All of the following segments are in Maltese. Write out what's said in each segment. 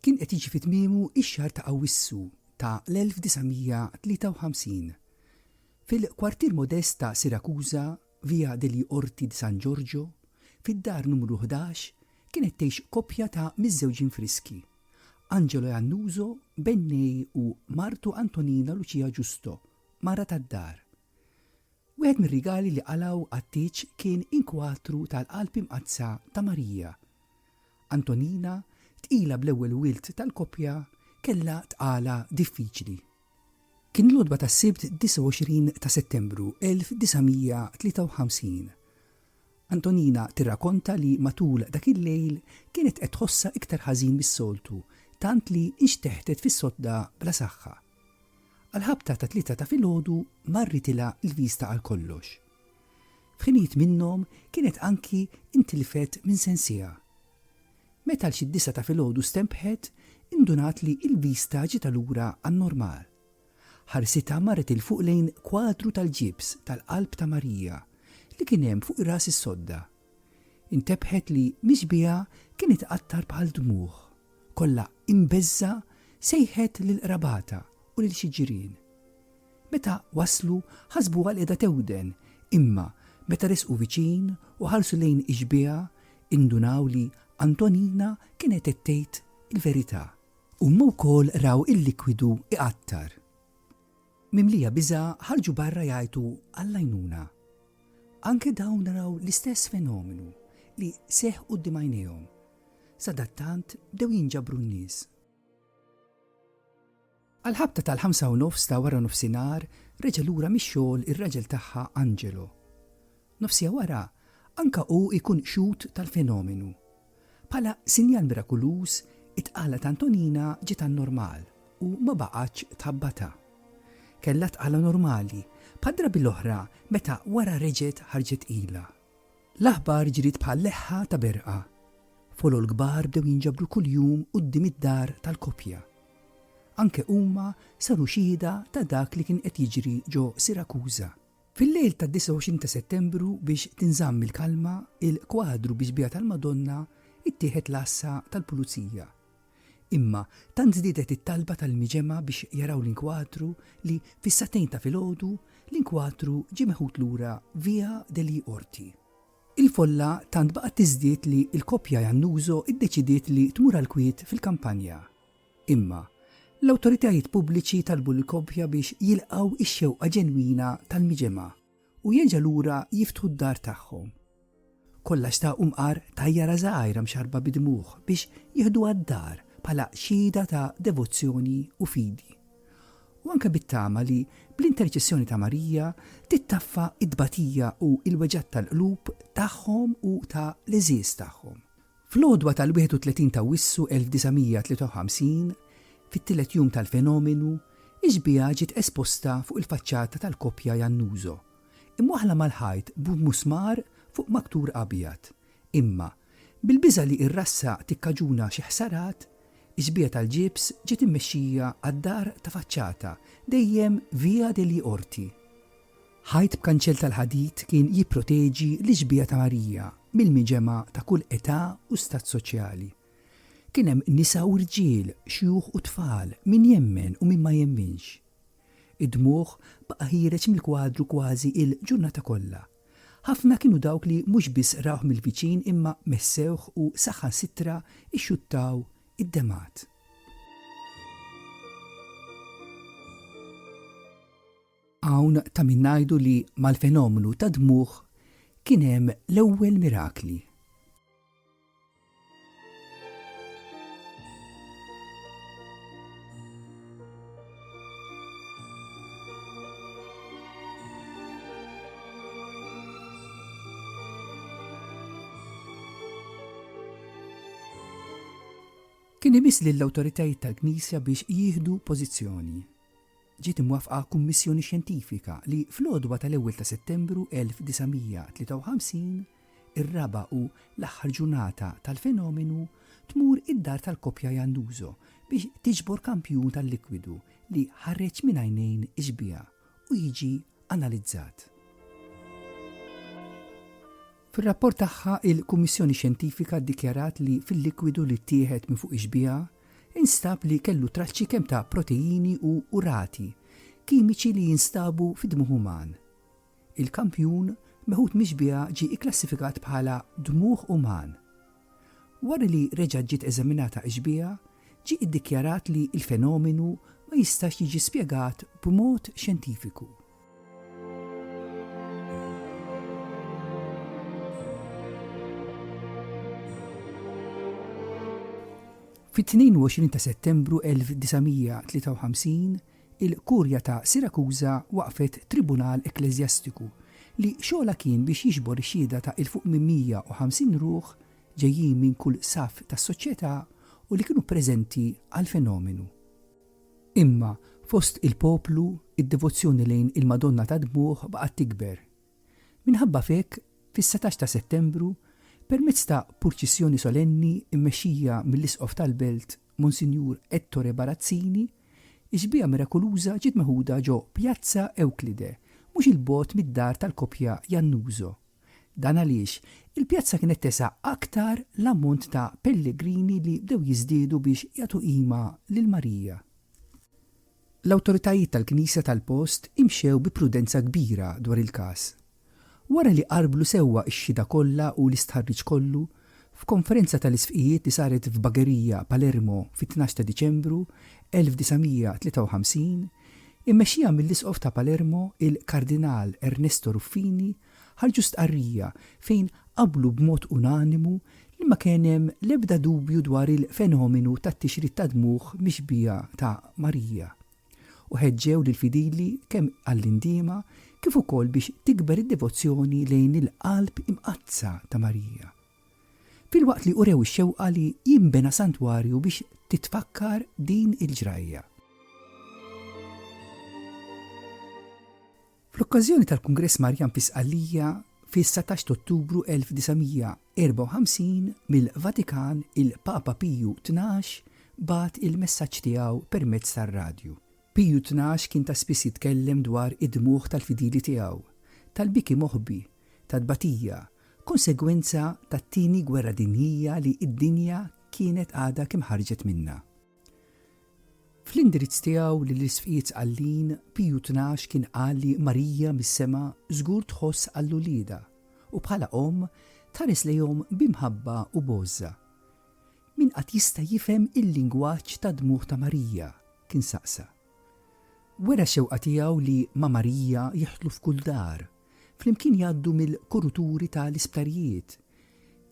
Kien qed jiġi fi tmiemu x-xahar ta' Awwissu ta' l-1953. Fil-kwartier modest ta' Sirakuża, Via degli Orti di San Giorgio, fid-dar numru ħdax kienet tgħix koppja ta' miżżewġin friski, Angelo e Annuso, b'Ennej u martu Antonina Lucia Giusto, mara tad-dar. Wieħed mir-rigali li qalgħu għat-tieġ kien inkwatru tal-Qalb Imqaddsa ta' Marija. Antonina, tqila bl-ewwel wild tal-koppja, kellha tqala diffiċli. Kien l-għodba tas-Sibt 29 ta' Settembru 1953. Antonina tirrakonta li matul dak il-lejl kienet qed tħossha iktar ħażin mis-soltu tant li nxteħtet fis-sodda bla saħħa. Għall-ħabta ta' tlieta ta' filgħodu marritilha l-vista għal kollox. F'ħinijiet minnhom kienet anki intilfet minn sensiha. Meta għal xi disa' ta' filgħodu stenbħet, indunat li l-vista ġietha lura għan-normal. Ħarsitha marret 'il fuq lejn kwadru tal-ġibs tal-qalb ta' Marija li kien hemm fuq ras is-sodda. Intebħet li mixbiha kien itqattar bħal dmugħ. Kollha imbeżżgħa sejħet lil qrabatha u lil xi ġirien. Meta waslu ħasbuha li qiegħda tewden imma meta resqu viċin u ħarsu lejn ixbiha indunaw li Antonina kienet qed tgħid il-verità. Huma wkoll raw il-likwidu iqattar. Mimlija biża' ħarġu barra jgħajtu għall-għajnuna. Anke dawn naraw l-istess fenomenu li seħħ quddiem għajnejhom. Sadattant bdew jinġabru n-nies. Għall-ħabta tal-ħamsa u nofs ta' waranofsinhar reġa' lura mix-xogħol ir-raġel tagħha Angelo. Nofsiegħa wara, anke hu jkun xhud tal-fenomenu. Bħala sinjal mirakuluż, it-tqala ta' Antonina ġiet għan-normal u ma baqgħetx tħabbatha. Kellha tqala normali, bħad-drabi l-oħra meta wara reġgħet ħarġet tqila. L-aħbar ġriet bħal leħħa ta' berqa. Folol kbar bdew jinġabru kuljum quddiem id-dar tal-koppja. Anke huma saru xhieda ta' dak li kien qed jiġri ġo Sirakuża. Fil-lejl tad-29 ta' Settembru biex tinżamm il-kalma, il-kwadru bi xbieha tal-Madonna ttieħed l-għassa tal-Pulizija. Imma tant żdiedet it-talba tal-imġemgħa biex jaraw l-inkwadru li fis-sagħtejn ta' filgħodu l-inkwadru ġie meħud lura Via degli Orti. Il-folla tant baqgħet tiżdied li l-koppja Iannuso ddeċidiet li tmur għall-kwiet fil-kampanja. Imma, l-awtoritajiet pubbliċi talbu lill-koppja biex jilqgħu x-xewqa ġenwina tal-miġemgħa u jerġa' lura jiftħu d-dar tagħhom. Kollha xtaqu mqar tajjara żgħira mxarrba bi dmugħ biex jieħduha d-dar bħala xhieda ta' devozzjoni u fidi. U anke bit-tama li bl-interċessjoni ta' Marija tittaffa t-tbatija u l-weġgħat tal-qlub tagħhom u ta' l-għeżież tagħhom. Fl-għodwa tal-31 t'Awwissu 1953, fit-tielet jum tal-fenomenu, ix-xbieha ġiet esposta fuq il-faċċata tal-koppja Iannuso, imwaħħla mal-ħajt b'musmar fuq maktur abjad. Imma, bil-biża' li r-rassa tikkaġuna xi ħsarat, ix-xbieha tal-ġibs ġiet immexxija għad-dar ta' faċċata dejjem Via degli Orti. Ħajt b'kanċell tal-ħadid kien jipproteġi l-Ixbija ta' Marija mill-miġemgħa ta' kull età u stat soċjali. Kien hemm nisa u rġiel, xjuħ u tfal, min jemmen u min ma jemminx. Id-dmugħ baqa' ħiereġ mill-kwadru kważi il-ġurnata kollha. Ħafna kienu dawk li mhux biss rawh mill-viċin imma messewh u saħansitra xxuttaw id-demgħat. Hawn ta' min ngħidu li mal-fenomenu tad-dmugħ kien hemm l-ewwel mirakli. Kien imiss lill-awtoritajiet tal-Knisja biex jieħdu pożizzjoni. ġiet imwaffqa kummissjoni xjentifika li fl-għodwa tal-ewwel ta' Settembru 1953, ir-raba' u l-aħħar ġurnata tal-fenomenu, tmur id-dar tal-koppja Iannuso biex tiġbor kampjun tal-likwidu li ħareġ minn għajnejn ix-xbieha u jiġi analizzat. Fir-rapport tagħha, il-Kummissjoni Xjentifika ddikjarat li fil-likwidu li ttieħed minn fuq ix-xbieha nstab li kellu traċċi kemm ta' proteini u urati kimiċi li jinstabu fid-dmugħ uman. Il-kampjun meħud mix-xbieha ġie kklassifikat bħala dmugħ uman. Wara li reġgħet ġiet eżaminata x-xbieha, ġie ddikjarat li l-fenomenu ma jistax jiġi spjegat b'mod xjentifiku. Fit-22 ta' Settembru 1953, il-Kurja ta' Sirakuża waqqfet Tribunal Ekkleżjastiku li xogħolha kien biex jiġbor ix-xhieda ta' 'il fuq minn 150 ruħ ġejjin minn kull saff tas-soċjetà u li kienu preżenti għall-fenomenu. Imma fost il-poplu, id-devozzjoni lejn il-Madonna tad-Dmugħ baqgħet tikber. Minħabba f'hekk, fis-satax ta' Settembru, permezz ta' purċissjoni solenni mmexxija mill-Isqof tal-belt, Monsinjur Ettore Barazzini, ix-xbieha mirakuluża ġiet meħuda ġo Pjazza Ewklide, mhux 'il bogħod mid-dar tal-koppja Jannuso. Dan għaliex il-pjazza kienet tesgħa aktar l-ammont ta' pellegrini li bdew jiżdiedu biex jagħtu qima lil Marija. L-awtoritajiet tal-knisja tal-post imxew bi prudenza kbira dwar il-każ. Wara li qarrblu sewwa x-xhieda kollha u l-istħarriġ kollu, f'konferenza tal-isqfijiet li saret f'Bagheria, Palermo, fit-tnax ta' Diċembru, 1953, immexxija mill-Isqof ta' Palermo, il-Kardinal Ernesto Ruffini, ħarġu stqarrija fejn qablu b'mod unanimu li ma kien hemm l-ebda dubju dwar il-fenomenu tat-tixrid tad-dmugħ mixbiha ta' Marija, u ħeġġew lill-fidili kemm għall-indiema kif ukoll biex tikber id-devozzjoni lejn il-Qalb Imqaddsa ta' Marija, filwaqt li urew ix-xewqa li jinbena santwarju biex titfakkar din il-ġrajja. Fl-okkażjoni tal-Kungress Marjan fi Sqallija fis-satax t'Ottubru 1954, mill-Vatikan il-Papa Piju Tnax bagħat il-messaġġ tiegħu permezz tar-radju. Piju Tnax kien ta' spiss jitkellem dwar id-dmugħ tal-fidili tiegħu, tal-biki moħbi, tat-tbatija, konsegwenza tat-Tieni Gwerra Dinjija li d-dinja kienet għadha kemm ħarġet minnha. Fl-indirizz tiegħu lill-Isqfijiet Sqallin, Piju Tnax kien qal li Marija mis-sema żgur tħoss għal uliedha u bħala omm tħares lejhom bi mħabba u b'għożża. Min qatt jista' jifhem il-lingwaġġ tad-dmugħ ta' Marija? kien saqsa. Wera x-xewqa tiegħu li ma' Marija jidħlu f'kull dar, flimkien jgħaddu mill-kuruturi ta' l-isptarijiet,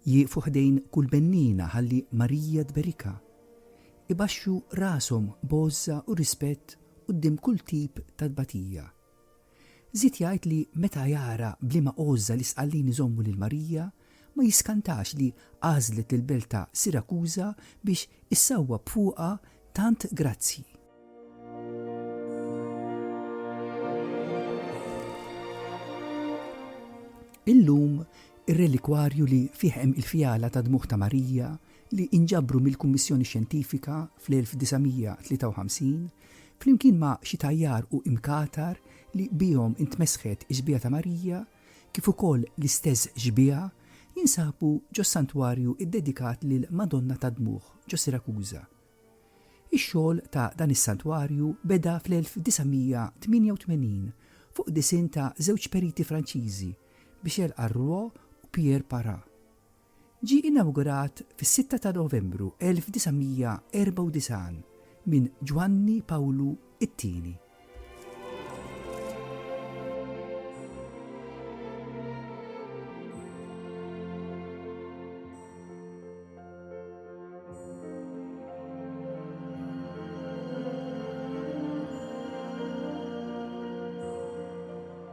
jieqfu ħdejn kull benniena ħalli Marija tberikha, ibaxxu rashom b'għożża u rispett quddiem kull tip ta' tbatija. Żied jgħid li meta jara b'liema għożża l-Isqallin iżommu lil Marija, ma jiskantax li għażlet l-belt ta' Sirakuża biex issawwab fuqha tant grazzji. Illum, ir-relikwarju li fih hemm il-fjala tad-dmugħ ta' Marija li inġabru mill-Kummissjoni Xjentifika fl-1953 Flimkien ma' xi tajjar u imkatar li bihom intmesħet ix-xbieha ta' Marija, kif ukoll l-istess xbieha, jinsabu ġos-santwarju ddedikat lill-Madonna tad-Dmugħ ġo Sirakuża. Ix-xogħol ta' dan is-santwarju beda fl-1988 fuq disinn ta' żewġ periti Franċiżi, Michel Arrouault u Pierre Parent. Ġie inawgurat fis-sitta ta' Novembru 1994 minn Ġwanni Pawlu t-Tieni.